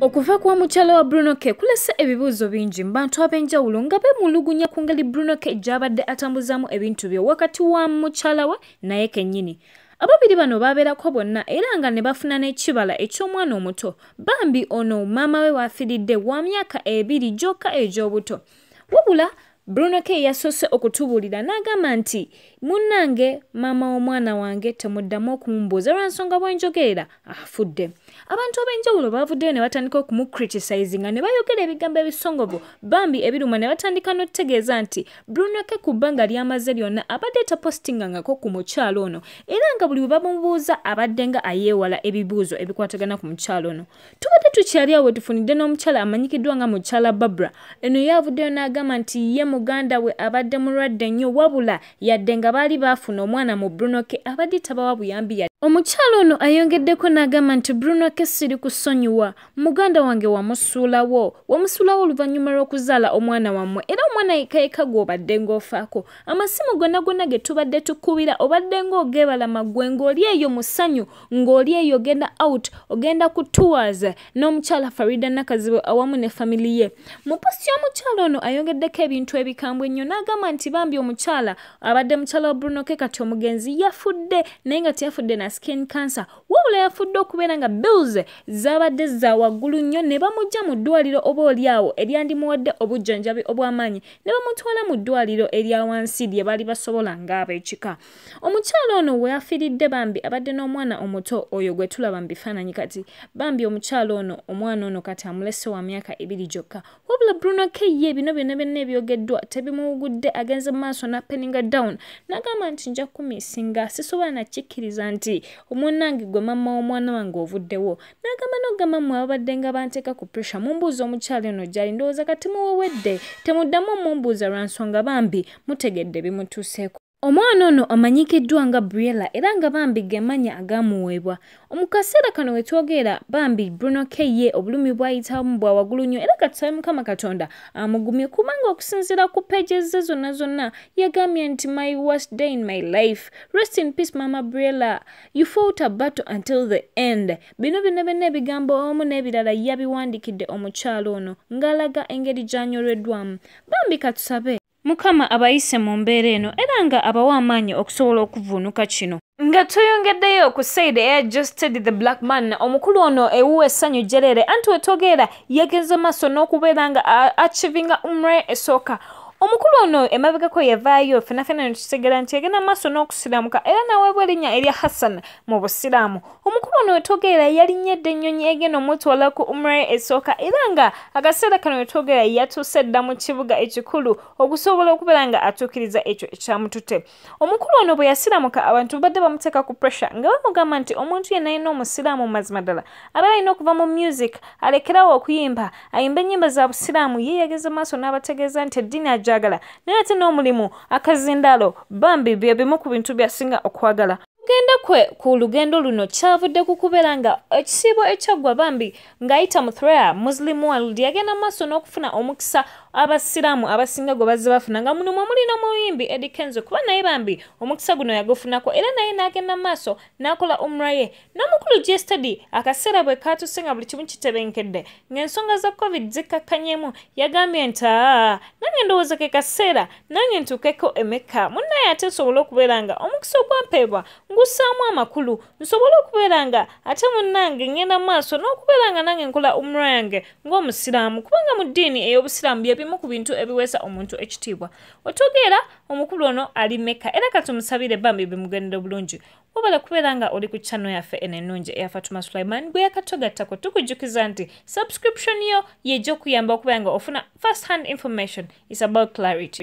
okuva kwa mukyala wa bruno ke kulese ebibuuzo bingi mu bantu ab'enjawulo nga bemulugunya ku ngeri bruno ke gy'abadde atambuzaamu ebintu bye wakati wa mukyala we naye kennyini ababiri bano baabeerako bonna era nga ne bafuna n'ekibala eky'omwana omuto bambi ono maama we waafiridde wa myaka ebiri gyokka egy'obuto wabula Bruno K yasoose okutubuulira n'agamba nti munnange maama w'omwana wange temuddamu okumumbuuza lwa nsonga bwe njogerera afudde abantu ab'enjawulo baavuddeyo ne batandika okumucritisizinga ne bayogera ebigambo ebisongovu bambi ebiruma ne batandika n'okutegeeza nti Bruno K ku bbanga ly'amaze lyonna abadde tapositingangako ku mukyalo ono era nga buli bwe bamubuuza abaddenga ayeewala ebibuuzo ebikwatagana ku mukyalo ono tubadde tukyali awo wetufunidde n'omukyala amanyikiddwa nga mukyala barbara eno yavuddeyo n'agamba nti ye muganda we abadde mulwadde nnyo wabula yadde nga baali baafuna omwana mu bruno ke abadde tabawa buyambi ya omukyala ono ayongeddeko n'agamba nti bruno ke siri kusonyiwa muganda wange wamusuulawo wamusuulawo oluvannyuma lw'okuzaala omwana wammwe era omwana yekayeka gw'obadde ng'ofaako amasimu gonna gonna ge tubadde tukubira obadde ng'ogebalama ggwe ng'oli eyo musanyu ng'oli eyo ogenda out ogenda ku tours n'omukyala farida nakazibu awamu ne family ye mu posti y'omukyala ono ayongeddeko ebintu ebikambwe ennyo n'agamba nti bambi omukyala abadde mukyala wa bruno ke kati omugenzi yafudde naye nga teyafudde na skin cancer wabula yafudde okubeera nga bills zaabadde za waggulu nnyo ne bamujja mu ddwaliro oba oli awo eryandimuwadde obujjanjabi obw'amaanyi ne bamutwala mu ddwaliro erya wansi lye baali basobola ng'ab'ekika omukyala ono weafiridde bambi abadde n'omwana omuto oyo gwe tulaba mu bifaananyi kati bambi omukyala ono omwana ono kati amulese wa myaka ebiri gyokka wabula bruno keye bino byonna byonna ebyogeddwa tebimuwugudde agenze mu maaso napeninga down nagamba nti nja kukumisinga sisobola nakikkiriza nti omunange gwe mamma w'omwana wange ovuddewo nagamba nogamba mwe ababadde nga banteeka ku pressure mumbuuza omukyala ono gyali ndowooza kati muwewedde temuddamu omumbuuza lwa nsonga bambi mutegedde bimutuuseeko Omwana ono amanyikiddwa nga Briella era nga bambi gemanya agamuweebwa. Omukaseera kano wetwogera bambi Bruno Keye obulumi bwayitamu bwa wagulu nnyo era katusabe Mukama Katonda amugumye kubanga okusinziira ku pages ze zonna zonna yagambye nti my worst day in my life. Rest in peace Mama Briella. You fought a battle until the end. Bino bino byonna ebigambo omu n'ebirala yabiwandikidde omukyalo ono ng'alaga engeri gy'anyolweddwamu. Bambi katusabe. Mukama abayise mu mbeera eno era nga abawa amaanyi okusobola okuvuunuka kino. Nga tuyongeddeyo ku Said Air Justed the Black Man, omukulu ono ewuwa essanyu jjereere anti wetogeera yagenze maaso n'okubeera nga achivinga umre esooka omukulu ono emabegako yavaayo fenafena netutegera nti yagenda maaso n'okusiramuka era naweebwa erinnya erya hassan mu busiraamu omukulu ono wetwogerera yalinnye edda ennyonyi egenda omutwala ku umra esooka era nga akaseera kano wetwogerera yatuuse dda mu kibuga ekikulu okusobola okubeera nga atuukiriza ekyo ekyamutute omukulu ono bwe yasiramuka abantu babadde bamuteeka ku pressure nga bamugamba nti omuntu yenna alina omusiraamu mu mazima ddala abeera alina okuva mu music alekerawo okuyimba ayimba ennyimba za busiraamu ye yageze maaso n'abategeeza nti eddiini agyagala naye ate n'omulimu akazindaalo bambi bye bimu ku bintu byasinga okwagala okugenda kwe ku lugendo luno kyavudde ku kubeera nga ekisiibo ekyaggwa bambi ng'ayita mu threa muslim world yagenda mu maaso n'okufuna omukisa abasiraamu abasinga gwe bazze bafuna nga muno mwe muli n'omuyimbi edi kenzo kuba naye bambi omukisa guno yagufunako era naye n'agenda mu maaso n'akola umra ye n'omukulu gstady akaseera bwe kaatuse nga buli kimu kitebenkedde ng'ensonga za covid zikkakkanyeemu yagambye nti aa nange ndowooza ke kaseera nange ntuukeko emekka munnaye ate nsobole okubeera nga omukisa ogwampeebwa ngussaamu amakulu nsobole okubeera nga ate munnange ngenda mu maaso n'okubeera nga nange nkola umra yange ng'omusiraamu kubanga mu ddiini ey'obusiraamu bye bimu ku bintu ebiweesa omuntu ekitiibwa otegeera omukulu ono ali mekka era katumusabire bambi bimugendera obulungi wabala kubeera nga oli ku kyano yaffe eno ennungi eya fatuma sulaiman gwe yakatogattako tukujjukiza nti subscription yo yejja okuyamba okubeera nga ofuna first hand information is about clarity